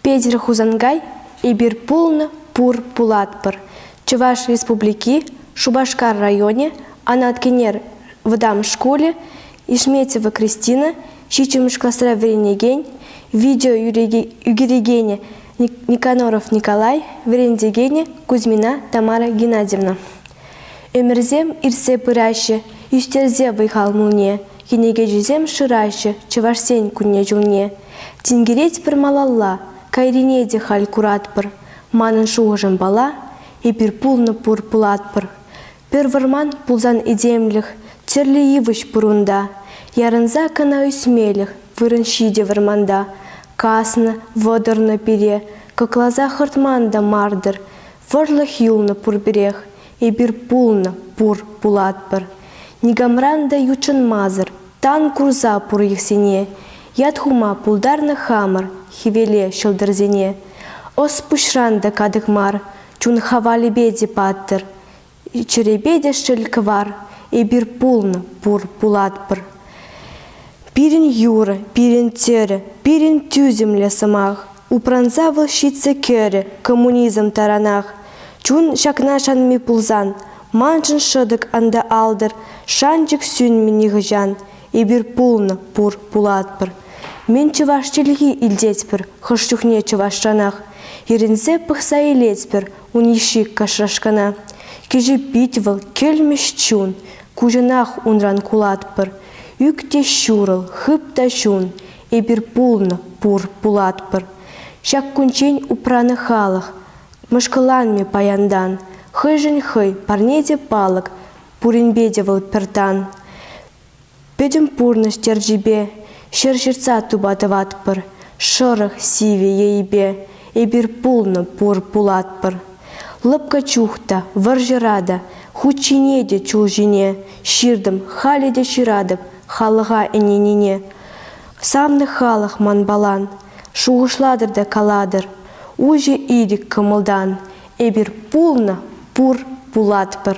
Петӗр Хусанкай эпир пулнӑ, пур, пулатпӑр. Чӑваш Республики, Шупашкар районӗ, Анат Кенер вӑтам шкулӗ, Ишметьево Кристина, ҫиччӗмӗш класра вӗренекен, видео ӳкерекенӗ Никоноров Николай, вӗрентекенӗ Кузьмина Тамара Геннадьевна. Ӗмӗрсем иртсе пыраҫҫӗ, ӳстерсе вӑй-хал мулне, кӗнекеҫӗсем шыраҫҫӗ Чӑвашсен кунне-ҫулне. Тинкеретпӗр малалла, кайрине те халь куратпӑр. Манӑн шухӑшӑмпала, эпир пулнӑ пур пулатпӑр. Пӗр вӑрман пулсан этемлӗх, тӗрлӗ йывӑҫ пур унта. Ярӑнса кӑна ӳсмелӗх вырӑн ҫитӗ вӑрманта. Каснӑ, вӑтӑрнӑ пире, кӑкласа хӑртман та мар-тӑр. Вӑрлӑх юлнӑ пурпӗрех, Эпир пулнӑ, пур, пулатпӑр. Никамран та ютшӑнмасӑр, тан курса пур йӑхсене. Ят хума пултарнӑ хамӑр хӗвеле ҫӑлтӑрсене. Ӑс пуҫран та катӑк мар, чун хавалӗпе те паттӑр. Чӗрепе те шел кӑвар. Эпир пулнӑ, пур, пулатпӑр. Пирӗн юр, пирӗн тӗр, пирӗн тӳсӗмлӗ сӑмах. Упранса вӑл ҫитсӗ кӗрӗ коммунизм таранах. Чун ҫакна шанми пулсан, маншӑн шӑтӑк анда алтӑр, шанчӑк сӳнмӗ нихӑҫан. Эпир пулнӑ, пур, пулатпӑр. Мен чӑваш чӗлхи илтетпӗр хӑш чухне чӑвашранах. Ирӗнсе пӑхса илетпӗр Ун йышши иккӗшӗш кӑна. Кӗҫӗ пит вӑл, кӗлмӗҫ чун. Куҫӑнах унран кулатпӑр. Ӳк те ҫурӑл, хып та чун. Эпир пулнӑ, пур, пулатпӑр. Ҫак кунччен упранӑ халӑх. Мӑшкӑланмӗ паянтан. Хӑйшӗн хӑй, парне те палӑк. Пуринпе те вӑл пӗр тан. Пӗтӗм пурнӑҫ терчӗпе ҫӗр ҫыртса тупа тӑватпӑр, шӑрӑх, сивӗ ейпе эпир пулнӑ, пур пулатпӑр. Лӑпкӑ чух та, вӑрҫӑра та, хут ҫине те, чул ҫине ҫыртӑм, халӗ те ҫыратӑп халӑха ӗненине. Савнӑ халӑх манпалан, шухӑшлатӑр та калатӑр, уҫӑ ирӗк кӑмӑлтан. Эпир пулнӑ, пур пулатпӑр.